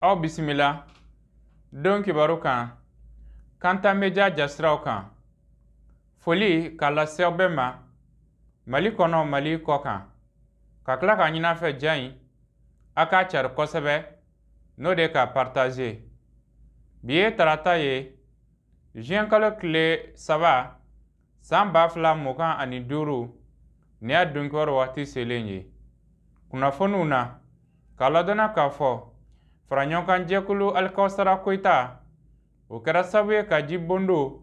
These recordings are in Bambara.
aw bisimila don kibaru kan kanta media jasiraw kan foli k'a lase bɛɛ ma mali kɔnɔ mali kɔ kan ka tila ka ɲin'a fɛ ja in a k'a cari kosɛbɛ n'o de ka partaze bi ye tarata ye juin kalo tile saba San ba fila mugan ani duuru ni y'a don kibaru waati selen ye kunnafoniw na k'a ladɔnna k'a fɔ faraɲɔgɔnkan jɛkulu alikawusara koyita o kɛra sabu ye ka ji bondo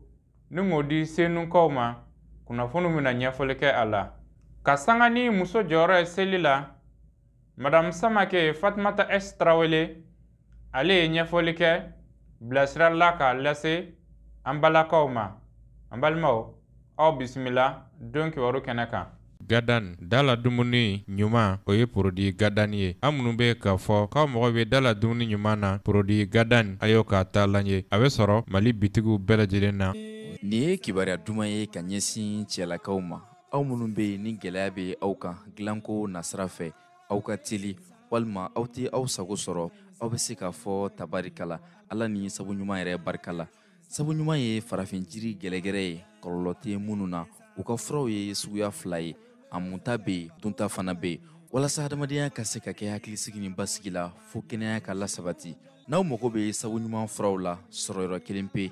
nin k'o di senukaw ma kunnafoniw bɛna ɲɛfɔli kɛ a la ka sanga ni muso jɔyɔrɔ ye seli la madame samake fatumata s tarawele ale ye ɲɛfɔli kɛ bilasirali la k'a lase an balakaw ma an balimaw aw bisimila don kibaru kɛnɛ kan gadan da la dumuni ɲuman o ye porodi gadan ye aw minnu bɛ k'a fɔ k'aw mago bɛ da la dumuni ɲuman na porodi gadan a y'aw ka taalan ye a bɛ sɔrɔ mali bitigiw bɛɛ lajɛlen na nin ye kibaruya duman ye ka ɲɛsin cɛlakaw ma aw minnu bɛ yen ni gɛlɛya bɛ aw kan dilanko nasira fɛ aw ka teli walima aw tɛ aw sago sɔrɔ aw bɛ se k'a fɔ tabarikala ala ni sabu ɲuman yɛrɛ barika la sabu ɲuman ye farafin jiri gɛlɛgɛrɛ ye kɔlɔlɔ tɛ minnu na u ka furaw ye suguya fila ye a munta bɛ yen dunta fana bɛ yen walasa hadamadenya ka se ka kɛ hakilisigi ni basigi la fo kɛnɛya ka lasabati n'aw mago bɛ sabu ɲuman furaw la sɔrɔyɔrɔ kelen pe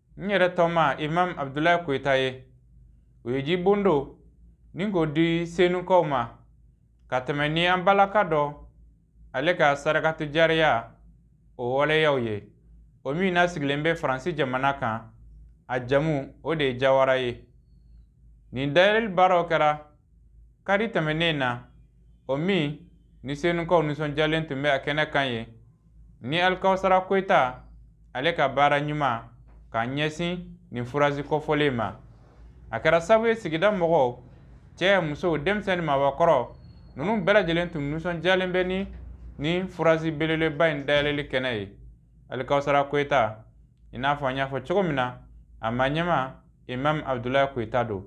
n yɛrɛ tɔma imam abdulayi koyita ye o ye ji bondo nin k'o di senukaw ma ka tɛmɛ ni an balaka dɔ ale ka sarakatu jariya o waleyaw ye o min n'a sigilen bɛ faransi jamana kan a jamu o de ye jawara ye nin dayɛlɛli baaraw kɛra Kari tɛmɛnen na, o min ni senukaw nisɔndiyalen tun bɛ a kɛnɛ kan yen, ni Alikawusara Koyita ale ka baara ɲuman k'a ɲɛsin nin furazi kofɔlen ma. A kɛra sabu ye sigida mɔgɔw, cɛ, musow, denmisɛn ni maabakɔrɔ, ninnu bɛɛ lajɛlen tun nisɔndiyalen bɛ ni nin furazi belebeleba in dayɛlɛli kɛnɛ ye. Alikawusara Koyita, i n'a fɔ an y'a fɔ cogo min na, a maɲɛma Imam Abudulayi Koyita don.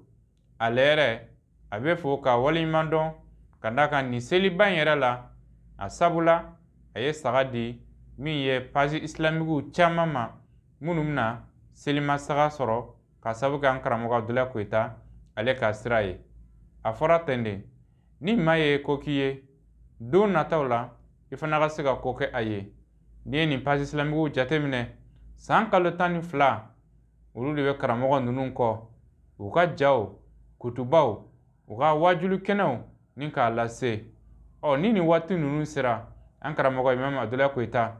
ale yɛrɛ a bɛ fo ka waleɲuman dɔn ka d'a kan nin seliba in yɛrɛ la a sabula a ye saga di min ye pazi isilamikiw caman ma minnu bɛna selima saga sɔrɔ ka sabu kɛ an karamɔgɔ abudulayi koyita ale ka sira ye a fɔra ten de ni maa ye ko k'i ye don nataw la i fana ka se ka ko kɛ a ye n'i ye nin pazi isilamikiw jateminɛ san kalo tan ni fila olu de bɛ karamɔgɔ ninnu kɔ u ka jaw kutubaw u ka waajuli kɛnɛw ni k'a lase ɔ ni nin waati ninnu sera an karamɔgɔ imam abdulayi koyita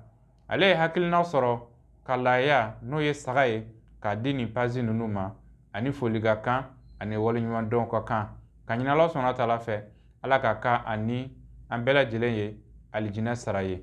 ale ye hakilina sɔrɔ ka laaya n'o ye saga ye k'a di nin pazi ninnu ma ani foli ka kan ani waleɲumandɔn ka kan k'a ɲini ala subahanahu wa taala fɛ ala k'a kɛ a ni an bɛɛ lajɛlen ye alijinɛ sara ye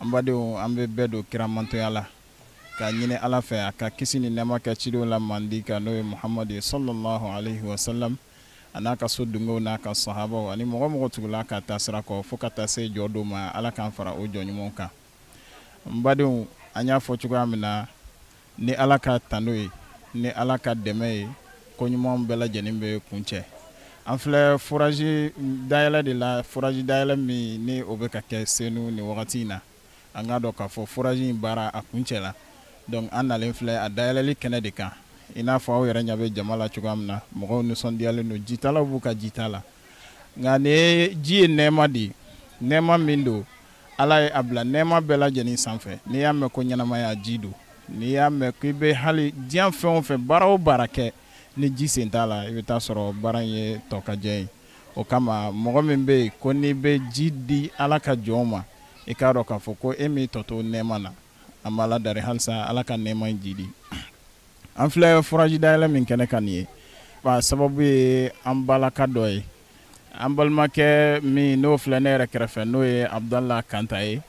an badenw an bɛ bɛɛ don kiramantɔya la k'a ɲini ala fɛ a ka kisi ni nɛɛma kɛ cidenw la mandi kan n'o ye muhamadu ye sallallahu alaihi wasallam a n'a ka so dunkew n'a ka sahabaw ani mɔgɔ o mɔgɔ tugul'a ka taasira kɔ fo ka taa se jɔdon ma ala k'an fara o jɔn ɲumanw kan n badenw an y'a fɔ cogoya min na Ni Ala ka tando ye, ni Ala ka dɛmɛ ye, ko ɲumanw bɛɛ lajɛlen bɛ kuncɛ. An filɛ forage dayɛlɛ de la, forage dayɛlɛ min ni o bɛ ka kɛ Senu nin wagati in na. An k'a dɔn k'a fɔ forage in baara a kuncɛla. Donc an nalen filɛ a dayɛlɛli kɛnɛ de kan. I n'a fɔ aw yɛrɛ ɲɛ bɛ jama la cogoya min na, mɔgɔw nisɔndiyalen don, jitalaw b'u ka jita la. Nka nin ye ji ye nɛɛma de ye, nɛɛma min don Ala ye a bila nɛɛma bɛɛ lajɛlen sanfɛ n'i y'a mɛn ko ɲɛnamaya ji don n'i y'a mɛn k'i bɛ hali diɲɛ fɛn o fɛn baara o baara kɛ ni ji sen t'a la i bɛ t'a sɔrɔ baara in ye tɔkajɛ ye o kama mɔgɔ min bɛ yen ko n'i bɛ ji di ala ka jɔnw ma i k'a dɔn k'a fɔ ko e m'i tɔ to nɛɛma na an b'ala dari halisa ala ka nɛɛma in jiidi an filɛ forage dayɛlɛ min kɛnɛ kan nin ye a sababu ye an balimakɛ dɔ ye an balimakɛ min n'o filɛ ne yɛrɛ kɛrɛfɛ n'o ye abudala kanta ye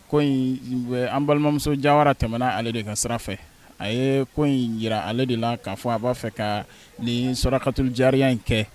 ko an balimamuso jawara tɛmɛna ale de ka sira fɛ a ye ko in jira ale de la k'a fɔ a b'a fɛ ka nin sarakatuli jariya in kɛ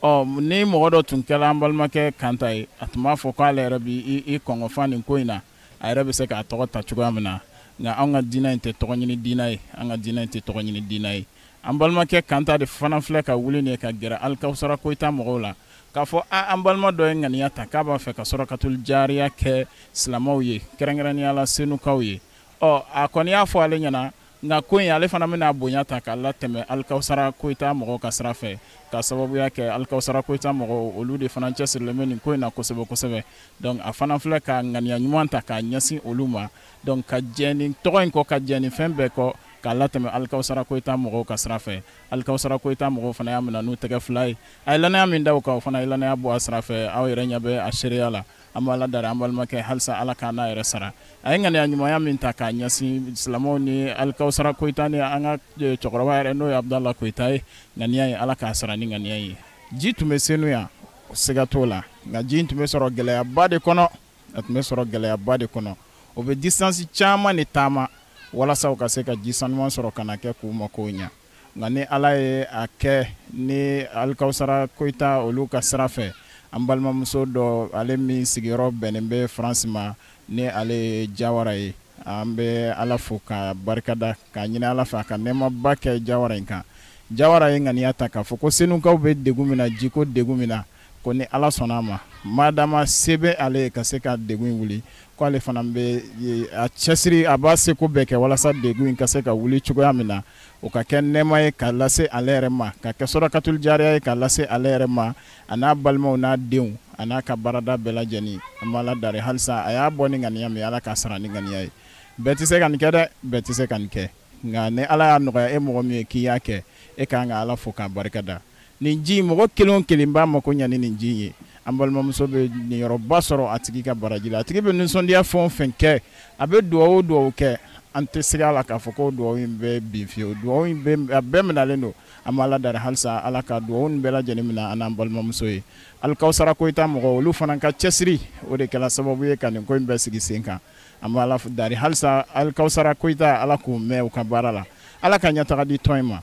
ɔ ni mɔgɔ dɔ tun kɛra an balimakɛ kanta ye a tun b'a fɔ k'ale yɛrɛ b'i kɔgɔ fa nin ko in na a yɛrɛ bɛ se k'a tɔgɔ ta cogoya min na nka an ka diinɛ in tɛ tɔgɔ ɲini diinɛ ye an ka diinɛ in tɛ tɔgɔ ɲini diinɛ ye an balimakɛ kanta de fana filɛ ka wuli nin ye ka gɛrɛ alikawusara koyita mɔgɔw la k'a fɔ an balima dɔ ye ŋaniya ta k'a b'a fɛ ka sarakatuli jariya kɛ silamɛw ye kɛrɛnkɛrɛnnenya la senukaw ye ɔ a kɔni y'a fɔ ale ɲɛna nka ko in ale fana bɛna bonya ta k'a latɛmɛ alikawusara koyita mɔgɔw ka sira fɛ ka sababuya kɛ alikawusara koyita mɔgɔw olu de fana cɛsirilen bɛ nin ko in na kosɛbɛ kosɛbɛ donc a fana filɛ ka ŋaniya ɲuman ta k'a ɲɛsin olu ma Donc ka jɛn nin tɔgɔ in kɔ, ka jɛn nin fɛn bɛɛ kɔ, k'a latɛmɛ Alikawusara Koyita mɔgɔw ka sira fɛ. Alikawusara Koyita mɔgɔw fana y'a minɛ n'u tɛgɛ fila ye. A ye lannaya min da u kan, u fana ye lannaya bɔ a sira fɛ. Aw yɛrɛ ɲɛ bɛ a seereya la. An bɛ Ala deli an balimakɛ, halisa Ala k'a n'a yɛrɛ sara. A ye ŋaniya ɲumanya min ta k'a ɲɛsin silamɛw ni Alikawusara Koyita ni an ka cɛkɔrɔba yɛrɛ n'o ye Abudala Koyita ye, ŋaniya in, Ala k'a sara ni ŋaniya in ye. Ji tun bɛ Senu yan, siga t'o la, nka ji in tun bɛ sɔrɔ gɛlɛyaba de kɔnɔ. a tun bɛ sɔrɔ gɛlɛyaba de kɔnɔ o bɛ distansi caman de taama walasa u ka se ka ji sanuman sɔrɔ ka n'a kɛ k'u makow ɲa nka ni ala ye a kɛ ni alikawusara koyita olu ka sira fɛ an balimamuso dɔ ale min sigiyɔrɔ bɛnnen bɛ faransi ma ni ale ye jawara ye an bɛ ala fo k'a barikada k'a ɲini ala fɛ a ka nɛɛmaba kɛ jawara in kan jawara ye ŋaniya ta k'a fɔ ko senukaw bɛ degun min na jiko degun min na Ko ni Ala sɔnna a ma, maadama se bɛ ale ye ka se ka degun in wuli, ko ale fana bɛ a cɛsiri, a b'a seko bɛɛ kɛ walasa degun in ka se ka wuli cogoya min na, o ka kɛ nɛɛma ye k'a lase ale yɛrɛ ma, ka kɛ sɔrɔkatuli jaariya ye k'a lase ale yɛrɛ ma, a n'a balimaw n'a denw a n'a ka baarada bɛɛ lajɛlen. An bɛ Ala dari halisa a y'a bɔ ni ŋaniya min ye, Ala k'a sara ni ŋaniya ye. Bɛɛ tɛ se ka nin kɛ dɛ! Bɛɛ tɛ se ka nin kɛ. Nka ni Ala y'a nɔgɔya e mɔgɔ min ye k'i y'a kɛ, e ka kan ka Ala fo k'a barikada. nin ji in mɔgɔ kelen o kelen b'a mako ɲa ni nin ji in ye an balimamuso bɛ niyɔrɔba sɔrɔ a tigi ka baraji la a tigi bɛ nisɔndiya fɛn o fɛn kɛ a bɛ dugawu o dugawu kɛ an tɛ segin a la k'a fɔ ko dugawu in bɛ bin fiyewu dugawu in bɛ a bɛɛ minalen don an b'ala dari halisa ala ka dugawu in bɛɛ lajɛlen minɛ an n'an balimamuso ye alikawusara koyita mɔgɔ olu fana ka cɛsiri o de kɛra sababu ye ka nin ko in bɛɛ sigi sen kan an b'ala dari halisa alikawusara koyita ala k'u mɛn u ka baara la ala ka ɲɛtaga di tɔn in ma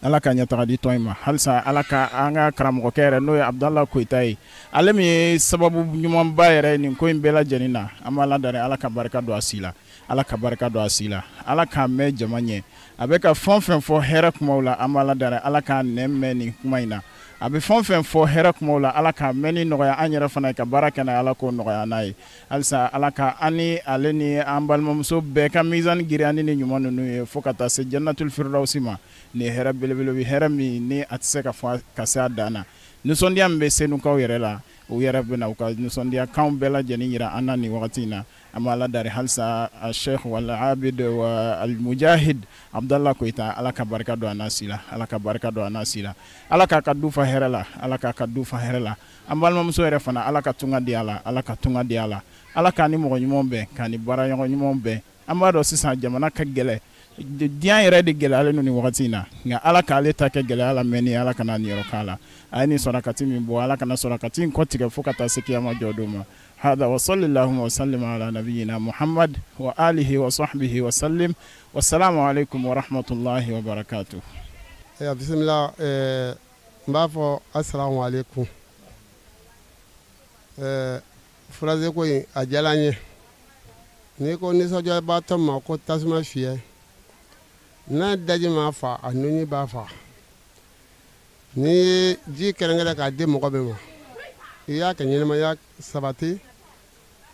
ala ka ɲɛtaga di tɔn in ma halisa ala ka an ka karamɔgɔkɛ yɛrɛ n'o ye abudala koyita ye ale min ye sababu ɲumanba yɛrɛ nin ko in bɛɛ lajɛlen na an b'ala dari ala ka barika don a si la ala ka barika don a si la ala k'a mɛn jama ɲɛ a bɛ ka fɛn fɛn fɔ hɛrɛ kumaw la an b'ala dari ala k'a nɛn mɛn nin kuma in na a bɛ fɛn fɛn fɔ hɛrɛ kumaw la ala k'a mɛnni nɔgɔya an yɛrɛ fana ye ka baara kɛ n'a ye ala k'o nɔgɔya an ye Halisa ala ka an ni ale ni an balimamuso bɛɛ ka mizan girinya ni ɲuman ninnu ye fo ka taa se janatuli firidawusi ma nin hɛrɛ belebeleba hɛrɛ min ni a tɛ se ka fɔ ka se a dan na nisɔndiya min bɛ senukaw yɛrɛ la u yɛrɛ bɛna u ka nisɔndiya kan bɛɛ lajɛlen jira an na nin wagati in na an b'ala dari halisa a sheikh wal abid wa alimujahid abudala koyita ala ka barika don a si la ala ka barika don a si la ala k'a ka du fa hɛrɛ la ala k'a ka du fa hɛrɛ la an balimamuso yɛrɛ fana ala ka tunga diya a la ala ka tunga diya a la ala k'a ni mɔgɔ ɲumanw bɛn k'a ni baara ɲɔgɔn ɲumanw bɛn an b'a dɔn sisan jamana ka gɛlɛn diɲɛ yɛrɛ de gɛlɛyalen don nin wagati in na nka ala k'ale ta kɛ gɛlɛya lamɛnni ala kana niyɔrɔ k'a la a ye nin sɔrɔkati min bɔ ala kana sɔrɔkati in kɔ tigɛ fo ka taa se kiyama jɔ don ma hada wa salli allahumma wa sallim ala nabiyina muhammad wa alihi wa sahbihi wa sallim wa salamu alaikum wa rahmatullahi wa barakatuh eh, bisimila eh, n b'a fɔ asalamu aleykum ɛɛ furazeko in a diyara n ye n'i ko nisɔndiyabaatɔ ma ko tasuma fiyɛ n'a daji m'a fa a nunji b'a fa n'i ye ji kɛrɛnkɛrɛn k'a di mɔgɔ min ma i y'a ka ɲɛnamaya sabati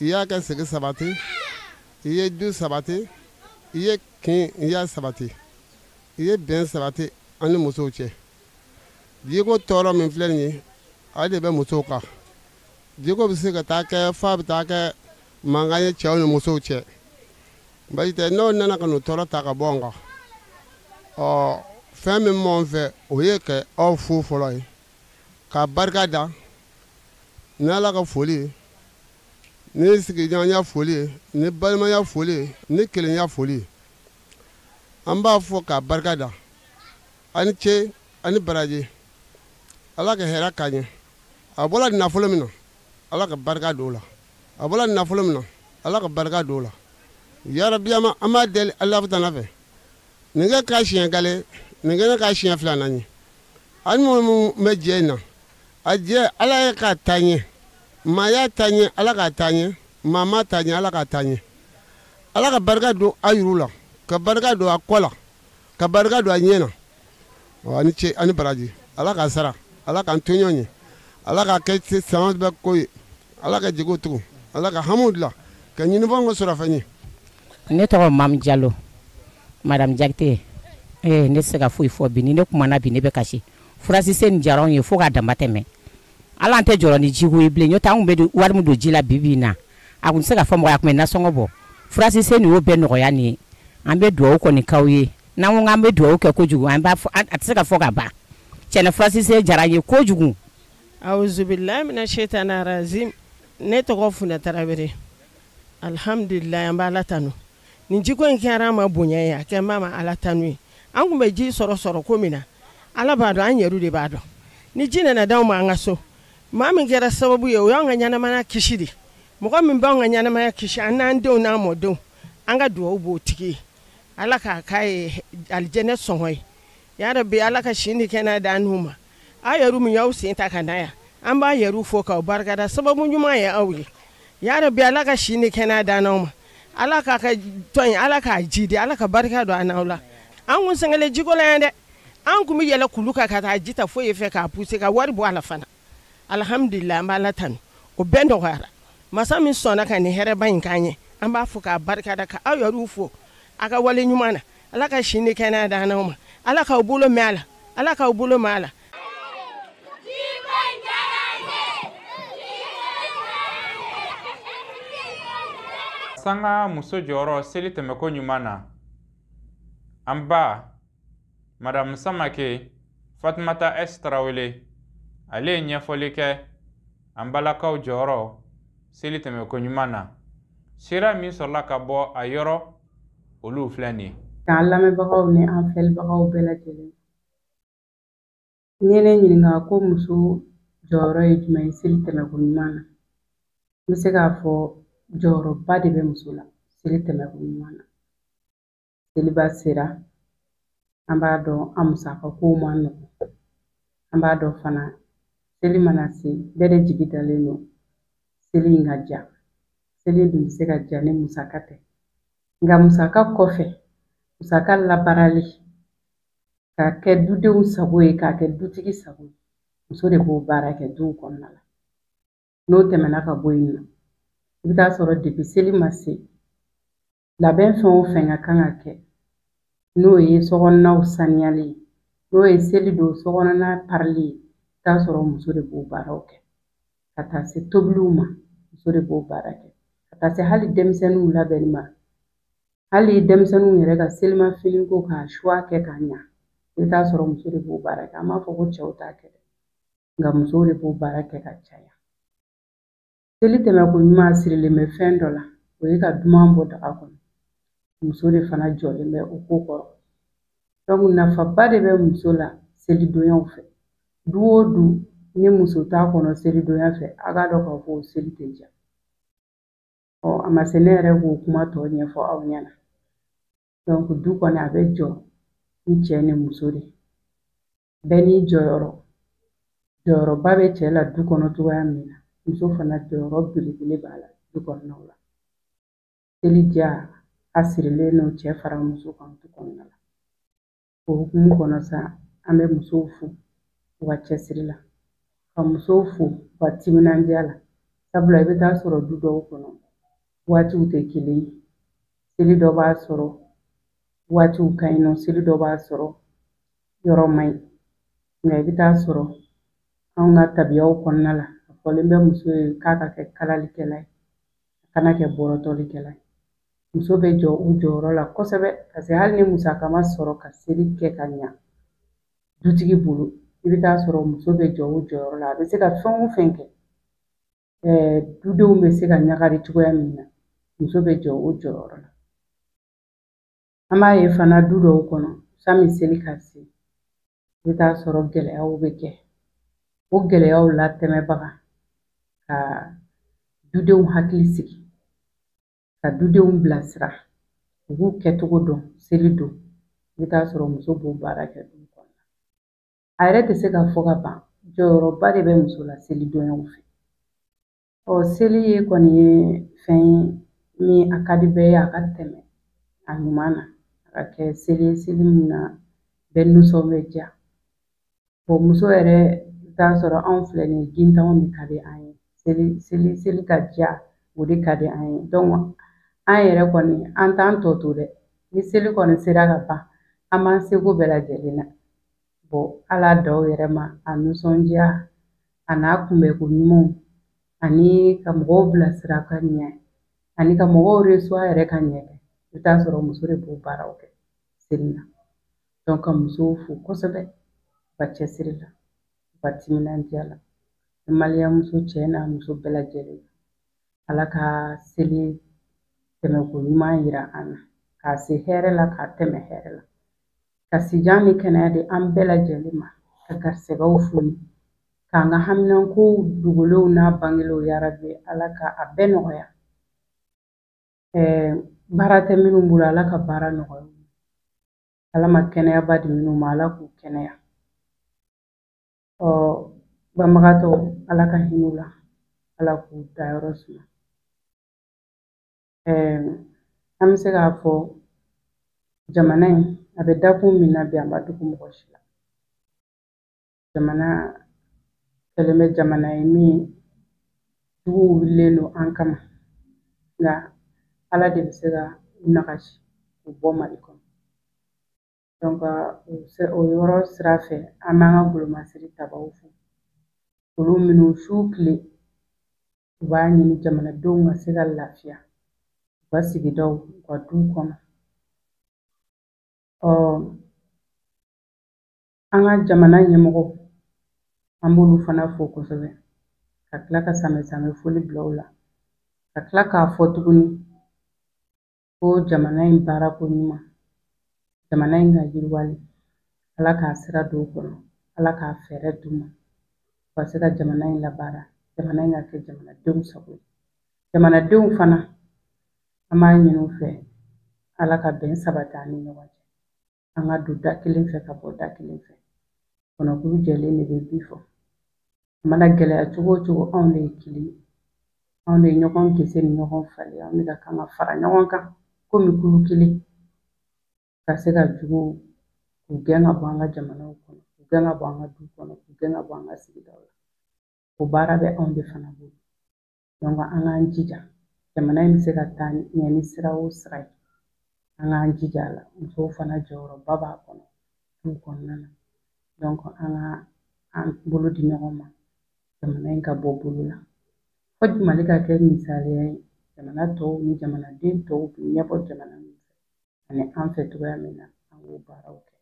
i y'a ka sigi sabati i ye du sabati i ye kin i y'a sabati i ye bɛn sabati an ni musow cɛ jiko tɔɔrɔ min filɛ nin ye ale de bɛ musow kan jiko bɛ se ka taa kɛ f'a bɛ taa kɛ mankan ye cɛw ni musow cɛ basi tɛ n'o nana ka n'o tɔɔrɔ ta ka bɔ an kan ɔ fɛn min b'anw fɛ o ye ka aw fo fɔlɔ ye ka barika da ni ala ka foli ye ni sigiɲɔgɔnya foli ye ni balimaya foli ye ni kelenya foli ye an b'a fɔ k'a barika da a ni ce a ni baraji ala ka hɛrɛ k'a ɲɛ a bɔra nafolo min na ala ka barika don o la a bɔra nafolo min na ala ka barika don o la yarabiyama an b'a deli alahutala fɛ nin kɛ k'a siɲɛ gale nin kɛ k'a siɲɛ filanan ye ani minnu bɛ jɛ in na a jɛ ala ye k'a taa ɲɛ maa y'a taa ɲɛ ala k'a taa ɲɛ maa m'a taa ɲɛ ala k'a taa ɲɛ ala ka barika don a yuru la ka barika don a kɔ la ka barika don a ɲɛ na ani ce ani baraji ala k'a sara ala k'an to ɲɔgɔn ye ala k'a kɛ sanga bɛɛ ko ye ala ka jigi tugu ala ka hamu dilan ka ɲinifɛn kɛ sɔrɔfɛn ye ne tɔgɔ mamu jalo madamu jakite ee ne tɛ se ka foyi fɔ bi ni ne kumana bi ne bɛ kasi furasise nin diyara anw ye fo k'a damatɛmɛ ala an tɛ jɔrɔ ni jiko ye bilen n'o t'an bɛ wari min don ji la bibi na a tun tɛ se ka fɔ mɔgɔ a tun bɛ nasɔngɔ bɔ furasise nin y'o bɛɛ nɔgɔya nin ye an bɛ dugawu kɔni k'aw ye n'an ko an bɛ dugawu kɛ kojugu an b'a a tɛ se ka fɔ ka ban cɛn na furasise diyara an ye kojugu awuzubilahi mina setani rajimu ne tɔgɔ funɛ tarawele alihamdulila an b'ala tando nin jiko in kɛra an ma bonya ye a kɛ an ma ala tanu ye an tun bɛ ji sɔrɔ sɔrɔko min na ala b'a dɔn an yɛrɛ de b'a dɔn ni ji nana d'an ma an ka so maa min kɛra sababu ye o y'an ka ɲɛnamaya kisi de mɔgɔ min b'an ka ɲɛnamaya kisi an n'an denw n'an mɔdenw an ka dugawu b'o tigi ye ala k'a k'a ye alijɛnɛ sɔngɔ ye yarabi ala ka si ni kɛnɛya d'an n'u ma aw yɛrɛ min y'aw sen ta ka na yan an b'a yɛrɛ fo k'aw barikada sababu ɲuman ye aw ye yarabi ala ka si ni kɛnɛya d'an n'aw ma ala k'a ka tɔn ala k'a jiidi ala ka barika don an n'aw la an kun sɛgɛnnen jiko la yan dɛ an tun bɛ yɛlɛ kulu kan ka taa ji ta fo yen fɛ k'a puse ka wari bɔ a la fana alihamdulila an b'ala tanu o bɛɛ nɔgɔyara masa min sɔnna ka nin hɛrɛba in k'an ye an b'a fo k'a barikada ka aw yɛrɛ fo aw ka wale ɲuman na ala ka si ni kɛnɛya d'an n'aw ma ala k'aw bolo mɛn a la ala k'aw bolo mɛn a la sanga muso jɔyɔrɔ seli tɛmɛko ɲuman na an ba madamu samake fatumata s tarawele ale ye ɲɛfɔli kɛ an balakaw jɔyɔrɔ seli tɛmɛko ɲuman na sira min sɔrɔla ka bɔ a yɔrɔ olu filɛ nin ye k'an lamɛnbagaw ni an filɛbagaw bɛɛ lajɛlen n'i ye ne ɲininka ko muso jɔyɔrɔ ye jumɛn ye seli tɛmɛko ɲuman na n bɛ se k'a fɔ jɔyɔrɔba de bɛ muso la seli tɛmɛko ɲuman na seliba sera an b'a dɔn an musaka kow man nɔgɔn an b'a dɔn fana seli mana se bɛɛ de jigi dalen don seli in ka diya seli dun bɛ se ka diya ni musaka tɛ nka musaka kɔfɛ musaka labaarali k'a kɛ dudenw sago ye k'a kɛ dutigi sago ye muso de b'o baara kɛ duw kɔnɔna la n'o tɛmɛna ka bɔ yen nɔ i bɛ taa sɔrɔ depuis seli ma se labɛn fɛn o fɛn ka kan ka kɛ n'o ye sokɔnɔnaw saniyali ye n'o ye seli don sokɔnɔna parili ye i bɛ t'a sɔrɔ muso de b'o baaraw kɛ ka taa se tobiliw ma muso de b'o baara kɛ ka taa se hali denmisɛnninw labɛnni ma hali denmisɛnninw yɛrɛ ka selimafini ko k'a choix kɛ ka ɲa i bɛ t'a sɔrɔ muso de b'o baara kɛ an b'a fɔ ko cɛw t'a kɛ dɛ nka musow de b'o baara kɛ ka caya Seli tɛmɛko ɲuman sirilen bɛ fɛn dɔ la, o ye ka duman bɔ daga kɔnɔ. Muso de fana jɔlen bɛ o ko kɔrɔ. Donc nafaba de bɛ muso la selidonyaw fɛ. Du o du ni muso t'a kɔnɔ selidonya fɛ, a k'a dɔn k'a fɔ seli tɛ diya. Ɔ a ma se ne yɛrɛ k'o kuma tɔ ɲɛfɔ aw ɲɛna. Donc du kɔni a bɛ jɔ ni cɛ ni muso de ye. bɛɛ n'i jɔyɔrɔ jɔyɔrɔba bɛ cɛ la du kɔnɔ cogoya min na muso fana jɔyɔrɔ belebele b'a la du kɔnɔnaw la seli diya a sirilen don cɛ fara muso kan du kɔnɔna la o hukumu kɔnɔ sa an bɛ musow fo u ka cɛsiri la ka musow fo u ka timinandiya la sabula i bɛ taa sɔrɔ du dɔw kɔnɔ waatiw tɛ kelen ye seli dɔ b'a sɔrɔ waatiw ka ɲi nɔ seli dɔ b'a sɔrɔ yɔrɔ man ɲi nka i bɛ taa sɔrɔ anw ka tabiyaw kɔnɔna la a fɔlen bɛ muso ye k'a ka kɛ kalalikɛla ye a kana kɛ bɔrɔtɔlikɛla ye muso bɛ jɔ o jɔyɔrɔ la kosɛbɛ paseke hali ni musaka ma sɔrɔ ka seli kɛ ka ɲa dutigi bolo i bɛ taa sɔrɔ muso bɛ jɔ o jɔyɔrɔ la a bɛ se ka fɛn o fɛn kɛ dudenw bɛ se ka ɲagari cogoya min na muso bɛ jɔ o jɔyɔrɔ la An b'a ye fana du dɔw kɔnɔ sani seli ka se i bɛ taa sɔrɔ gɛlɛyaw bɛ kɛ o gɛlɛyaw latɛmɛbaga ka dudenw hakili sigi ka dudenw bilasira u b'u kɛcogo dɔn seli don i bɛ taa sɔrɔ muso b'o baara kɛ du kɔnɔ a yɛrɛ tɛ se ka fɔ ka ban jɔyɔrɔba de bɛ muso la seli donyaw fɛ Ɔ seli in kɔni ye fɛn ye min a ka di bɛɛ ye a ka tɛmɛ a ɲuman na a ka kɛ seli ye seli min na bɛɛ nisɔn bɛ diya bɔn muso yɛrɛ t'a sɔrɔ anw filɛ nin ye gintanw de ka di an ye seli seli seli ka diya o de ka di an ye dɔnku an yɛrɛ kɔni an t'an tɔ to dɛ ni seli kɔni sera ka ban an b'an seko bɛɛ lajɛlen na bɔ a laadaw yɛrɛ ma a nisɔndiya a n'a kunbɛnko ɲumanw ani ka mɔgɔw bilasira ka ɲɛ ani ka mɔgɔw reçoit yɛrɛ ka ɲɛ i bɛ taa sɔrɔ muso de b'o baaraw kɛ seli la dɔnku ka musow fo kosɛbɛ u ka cɛsiri la u ka timinandiya la maliyɛn muso cɛ n'a muso bɛɛ lajɛlen ala ka seli tɛmɛko ɲuman yira an na k'a se hɛrɛ la k'a tɛmɛ hɛrɛ la ka sijan ni kɛnɛya di an bɛɛ lajɛlen ma ka garisɛgɛw foni k'an ka haminankow dogolenw n'a bangelenw yarabi ala ka a bɛɛ nɔgɔya baara tɛ minnu bolo ala ka baara nɔgɔya ala ma kɛnɛyaba di minnu ma ala k'u kɛnɛya ɔ banbagatɔw ala ka hinɛ u la ala k'u dayɔrɔ suma an bɛ se k'a fɔ jamana in a bɛ dakun min na bi a ma dogo mɔgɔ si la jamana kɛlen bɛ jamana ye min juguw wulilen don an kama nka ala de bɛ se ka u nagasi k'u bɔ mali kɔnɔ dɔnku o yɔrɔ sira fɛ an b'an ka golomasiri tabaw fo olu minnu su tile U b'a ɲini jamanadenw ka se ka lafiya u ka sigidaw u ka duw kɔnɔ. Ɔ an ka jamana ɲɛmɔgɔw an b'olu fana fo kosɛbɛ ka tila ka sanbɛ sanbɛ foli bila u la ka tila k'a fɔ tuguni ko jamana in baarako ɲuman jamana in ka yiriwali ala k'a sira don u kɔnɔ ala k'a fɛɛrɛ d'u ma u ka se ka jamana in labaara jamana in ka kɛ jamanadenw sago ye jamanadenw fana an b'a ɲini u fɛ ala ka bɛn sabati an ni ɲɔgɔn cɛ an ka don da kelen fɛ ka bɔ da kelen fɛ kɔnɔkulu jɛlen de bɛ bi fɔ a mana gɛlɛya cogo o cogo anw de ye kelen ye anw de ye ɲɔgɔn gese ni ɲɔgɔn falen anw de ka kan ka fara ɲɔgɔn kan komi kulu kelen ka se ka juguw k'u gɛn ka bɔ an ka jamanaw kɔnɔ k'u gɛn ka bɔ an ka du kɔnɔ k'u gɛn ka bɔ an ka sigidaw la o baara bɛ anw de fana bolo an k'an jija jamana in bɛ se ka taa ɲɛ ni sira o sira ye an k'an jija a la musow fana jɔyɔrɔba b'a kɔnɔ du kɔnɔna na an ka an bolo di ɲɔgɔn ma jamana in ka bɔ bolo la fo mali ka kɛ misaliya ye jamana tɔw ni jamanaden tɔw bɛ ɲɛbɔ jamana min fɛ ani an fɛ cogoya min na an k'o baaraw kɛ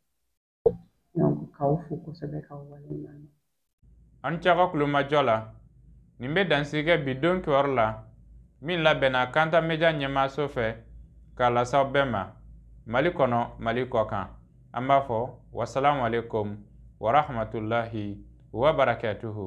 k'aw fo kosɛbɛ k'aw waleɲuman dɔn aw ni ce aw ka kulomajɔ la nin bɛ dansigi kɛ bi don kibaru la min labɛnna kanta media ɲɛmaaso fɛ k'a lase aw bɛɛ ma mali kɔnɔ mali kɔ kan an b'a fɔ wasalamu aleykum warahmatulahi wabarakatuhu